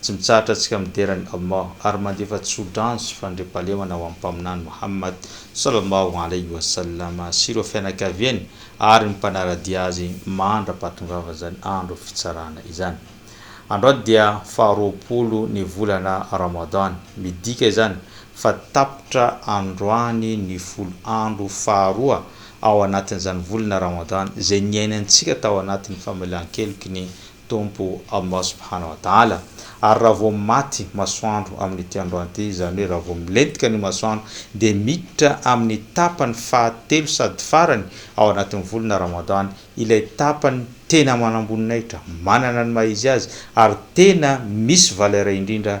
Tsy mitsahatra antsika midera an'i Allah ary mandefa tso-drano sy fandriampahalemana ho amin'ny Mpaminany Mohamad sallallahu alayhi wa sallam sy ireo fianakaviany ary ny mpanara-dia azy mandra-pahatongavan'izany andro fitsarana izany. Androany dia faharoapolo ny volana Ramadan. Midika izany fa tapitra androany ny folo andro faharoa ao anatin'izany volana Ramadan izay niainantsika tao anatin'ny famelan-keloky ny Tompo Allah subhana wa ta'ala, ary raha vao maty masoandro amin'ity androany ity, izany hoe raha vao milentika ny masoandro, dia miditra amin'ny tapany fahatelo sady farany ao anatin'ny volana Ramadan, ilay tapany tena manamboninahitra, manana ny maha izy azy, ary tena misy valeur indrindra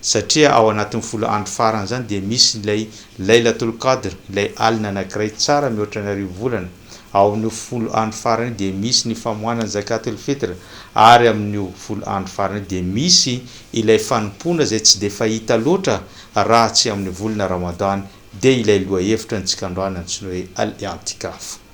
Satria ao anatin'ny folo andro farany izany dia misy ilay Laylatul Qadr, ilay alina anankiray tsara mihoatra ny arivo volana. Ao amin'io folo andro farany io dia misy ny famoahana ny Zakatul Fitr, ary amin'io folo andro farany io dia misy ilay fanompoana izay tsy dia fahita loatra raha tsy amin'ny volana Ramadan, dia ilay lohahevitra ny tsy kandroana antsoina hoe Al-I'tikaf.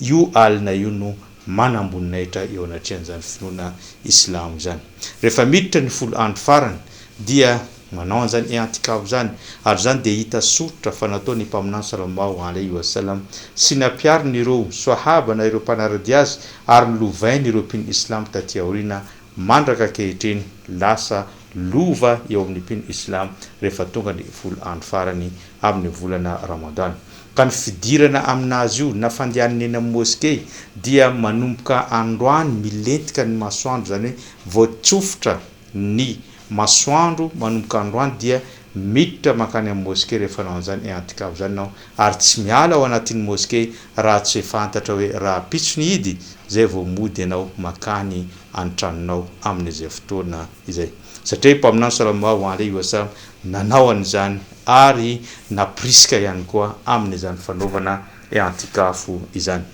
Io alina io no manamboninahitra eo anatrehan'izany finoana islamo izany. Rehefa miditra ny folo andro farany dia manao an'izany i'antikaf izany ary izany dia hita soritra fa nataon'ny Mpaminany sallallahu alaihi wa sallam sy nampiariny ireo swahaba na ireo mpanara-dia azy ary nolovainy ireo mpino islamo taty aoriana Mandraka ankehitriny, lasa lova eo amin'ny mpino islam rehefa tonga ny folo andro farany amin'ny volana Ramadan. Ka ny fidirana amin'azy io na fandehanany eny amin'ny moskey dia manomboka androany milentika ny masoandro, izany hoe vao tsofotra ny masoandro manomboka androany dia Miditra mankany amin'ny moske rehefa hanao an'izany iantikaf izany ianao ary tsy miala ao anatin'ny moske raha tsy fantatra hoe rahampitso ny idy izay vao mody ianao mankany an-tranonao amin'izay fotoana izay. Satria i Mpaminany Salallahu alaihi wa sallam nanao an'izany ary nampirisika ihany koa amin'izany fanaovana iantikaf izany.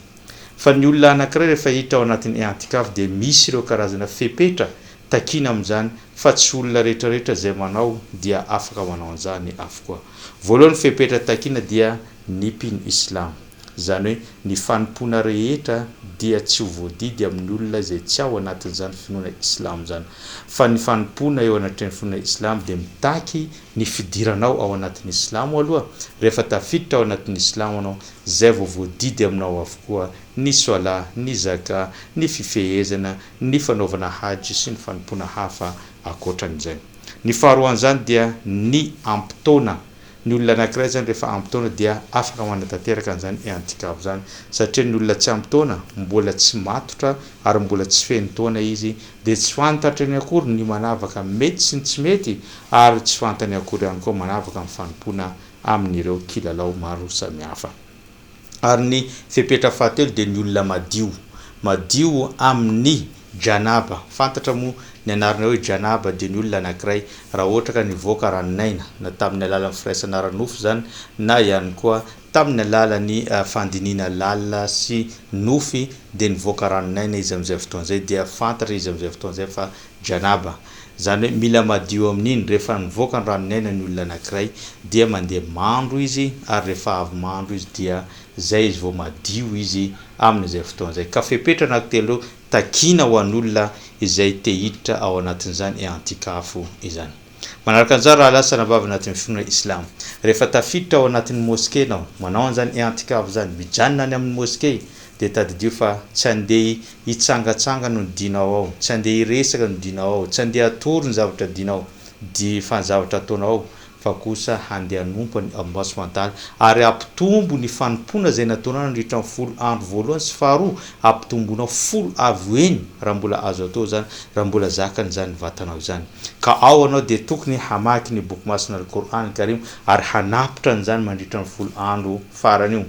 Fa ny olona anankiray rehefa hiditra ao anatin'ny ehantikavy dia misy ireo karazana fepetra takiana amin'izany fa tsy olona rehetrarehetra izay manao dia afaka manao an'izany avokoa. Voalohany fepetra takiana dia ny mpino islam. Izany hoe ny fanompoana rehetra dia tsy ho voadidy amin'ny olona izay tsy ao anatin'izany finoana islam izany. Fa ny fanompoana eo anatrehan'ny finoana islam dia mitaky ny fidiranao ao anatin'ny silamo aloha, rehefa tafiditra ao anatin'ny silamo anao, izay vao voadidy aminao avokoa ny soala, ny zaka, ny fifehezana, ny fanaovana hajy sy ny fanompoana hafa ankoatran'izay. Ny faharoan'izany dia ny ampitaona, ny olona anankiray izany rehefa ampitaona dia afaka manatanteraka an'izany i'antikaf izany, satria ny olona tsy ampitaona mbola tsy matotra ary mbola tsy feno taona izy, dia tsy fantatra eny akory ny manavaka mety sy ny tsy mety ary tsy fantany akory ihany koa manavaka ny fanompoana amin'ireo kilalao maro samihafa. Ary ny fepetra fahatelo dia ny olona madio, madio amin'ny Janaba, fantatra moa ny anarana hoe Janaba dia ny olona anankiray raha ohatra ka nivoaka ranon'aina, na tamin'ny alalan'ny firaisana ara-nofo izany na ihany koa Tamin'ny alalan'ny fandinihina lalina sy nofy dia nivoaka ranon'aina izy amin'izay fotoana izay dia fantatra izy amin'izay fotoana izay fa Janaba. Izany hoe mila madio amin'iny, rehefa nivoaka ny ranon'ny aina ny olona anankiray dia mandeha mandro izy ary rehefa avy mandro izy dia izay izy vao madio izy amin'izay fotoana izay. Ka fepetra anankitelo takiana ho an'olona izay te hiditra ao anatin'izany eantikafo izany. Manaraka an'izany rahalahy sy anabavy anatin'ny finoana islamo. Rehefa tafiditra ao anatin'ny moske ianao, manao an'izany i'antikaf izany, mijanona any amin'ny moske, dia tadidio fa tsy handeha hitsangatsangana ny dinao ao, tsy handeha hiresaka ny dinao ao, tsy handeha hatory ny zavatra dinao, di, fa ny zavatra ataonao ao, fa kosa handeha hanompo an'i Allah subhanahu wa ta'ala ary hampitombo ny fanompoana izay nataonao nandritra ny folo andro voalohany sy faharoa ampitomboinao folo avo eny raha mbola azo atao izany, raha mbola zakany izany vatanao izany. Ka ao ianao dia tokony hamaky ny Boky Masina Al-Qour'an Karim ary hanapitra an'izany mandritra ny folo andro farany io.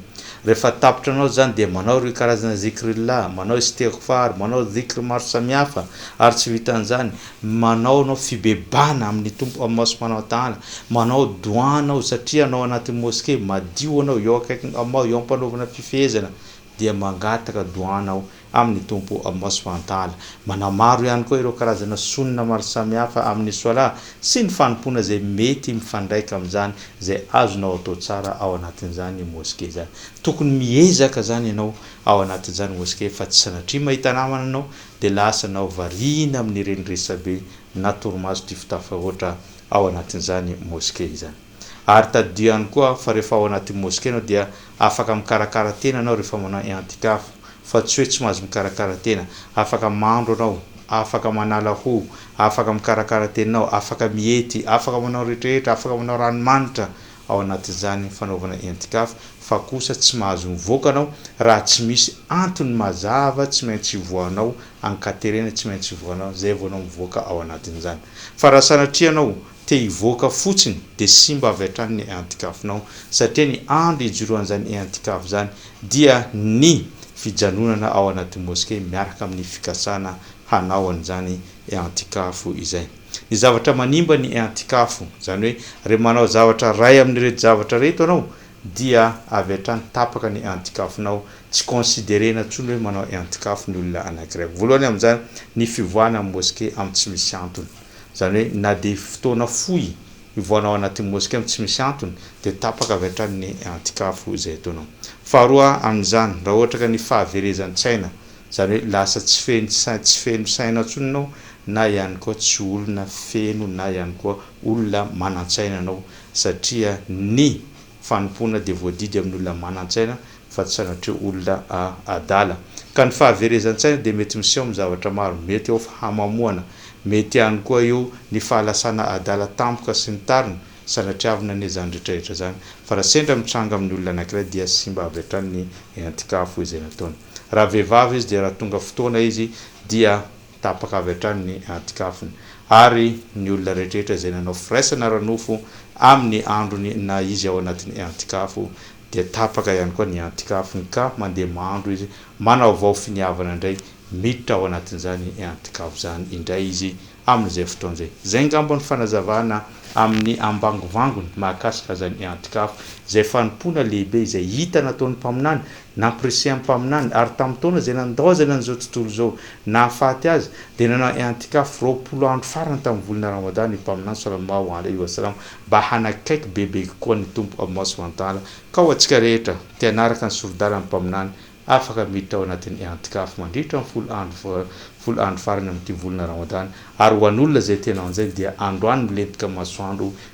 Rehefa tapitra anao izany dia manao ireo karazana Zikrillah, manao Istighfar, manao Dhikr maro samihafa ary tsy vitan'izany, manao ianao fibebahana amin'ny Tompo Allah Subhanahu wa Ta'ala, manao Dua anao satria anao anaty Moske, madio anao eo akaikin'i Allah eo ampanaovana fifehezana, dia mangataka doana aho amin'ny Tompo Allah subhanahu wa ta'ala. Manamaro ihany koa ireo karazana Sunnah maro samihafa amin'ny Swalah sy ny fanompoana izay mety mifandraika amin'izany izay azonao atao tsara ao anatin'izany Mosquée izany. Tokony miezaka izany ianao ao anatin'izany Mosquée fa tsy sanatria mahita namana ianao dia lasa anao variana amin'ireny resabe na torimaso tifotafo fahoatra ao anatin'izany Mosquée izany. Ary tadidio ihany koa fa rehefa ao anaty moske ianao dia afaka mikarakara tena ianao rehefa manao i'antikaf, fa tsy hoe tsy mahazo mikarakara tena. Afaka mandro ianao, afaka manala hoho, afaka mikarakara tenanao, afaka miety, afaka manao ny rehetrarehetra, afaka manao ranomanitra ao anatin'izany fanaovana i'antikaf, fa kosa tsy mahazo mivoaka ianao raha tsy misy antony mazava tsy maintsy ivoahanao, ankaterena tsy maintsy ivoahanao, izay vao ianao mivoaka ao anatin'izany. Fa raha sanatria ianao te hivoaka fotsiny dia simba avy hatrany ny antikafonao satria ny andro hijoroan'izany eantikafo izany dia ny fijanonana ao anaty mosquée miaraka amin'ny fikasana hanao an'izany eantikafo izay. Ny zavatra manimba ny eantikafo izany hoe re manao zavatra iray amin'ireto zavatra ireto ianao dia avy hatrany tapaka ny eantikafonao tsy considerena intsony hoe manao eantikafo ny olona anankiray voalohany amin'izany ny fivoahana amin'ny mosquée amin'ny tsy misy antony Izany hoe na dia fotoana fohy hivoahanao anatin'ny moskea tsy misy antony dia tapaka avy hatrany ny antikafo izay ataonao. Faharoa amin'izany, raha ohatra ka ny fahaverezan-tsaina, izany hoe lasa tsy feno saina, tsy feno saina intsony ianao na ihany koa tsy olona feno na ihany koa olona manan-tsaina ianao satria ny Fanompoana dia voadidy amin'ny olona manan-tsaina fa tsy sanatria olona adala. Ka ny fahaverezan-tsaina dia mety miseho amin'ny zavatra maro, mety eo fahamamoana, mety ihany koa eo ny fahalasana adala tampoka sy ny tariny, sanatria avona anie izany rehetrarehetra izany. Fa raha sendra mitranga amin'ny olona anankiray dia simba avy hatrany ny entin-kafo izay nataony. Raha vehivavy izy dia raha tonga fotoana izy dia. Tapaka avy hatrany ny anti-kafony. Ary ny olona rehetrarehetra izay nanao firaisana ara-nofo amin'ny androny na izy ao anatin'ny anti-kafo, dia tapaka ihany koa ny anti-kafony, ka mandeha mandro izy, manaovao finiavana indray, miditra ao anatin'izany anti-kafo izany indray izy amin'izay fotoana izay. Izay angamba no fanazavana amin'ny ambangovangony mahakasika izany anti-kafo, izay fanompoana lehibe izay hita nataon'ny mpaminany Nampirisihany mpaminany, ary tamin'ny taona izay nandaozany an'izao tontolo izao nahafaty azy, dia nanao i'antikaf roapolo andro farany tamin'ny volana Ramadan io mpaminany Sallallahu Alaihi Wasallam mba hanakaiky bebe kokoa ny Tompo Allah Subhanahu Wa Ta'ala, ka ho antsika rehetra, te hanaraka ny soridalan'ny mpaminany, afaka miditra ao anatin'ny i'antikaf mandritra ny folo andro folo andro farany amin'ity volana Ramadan, ary ho an'olona izay te hanao an'izay dia androany milentika masoandro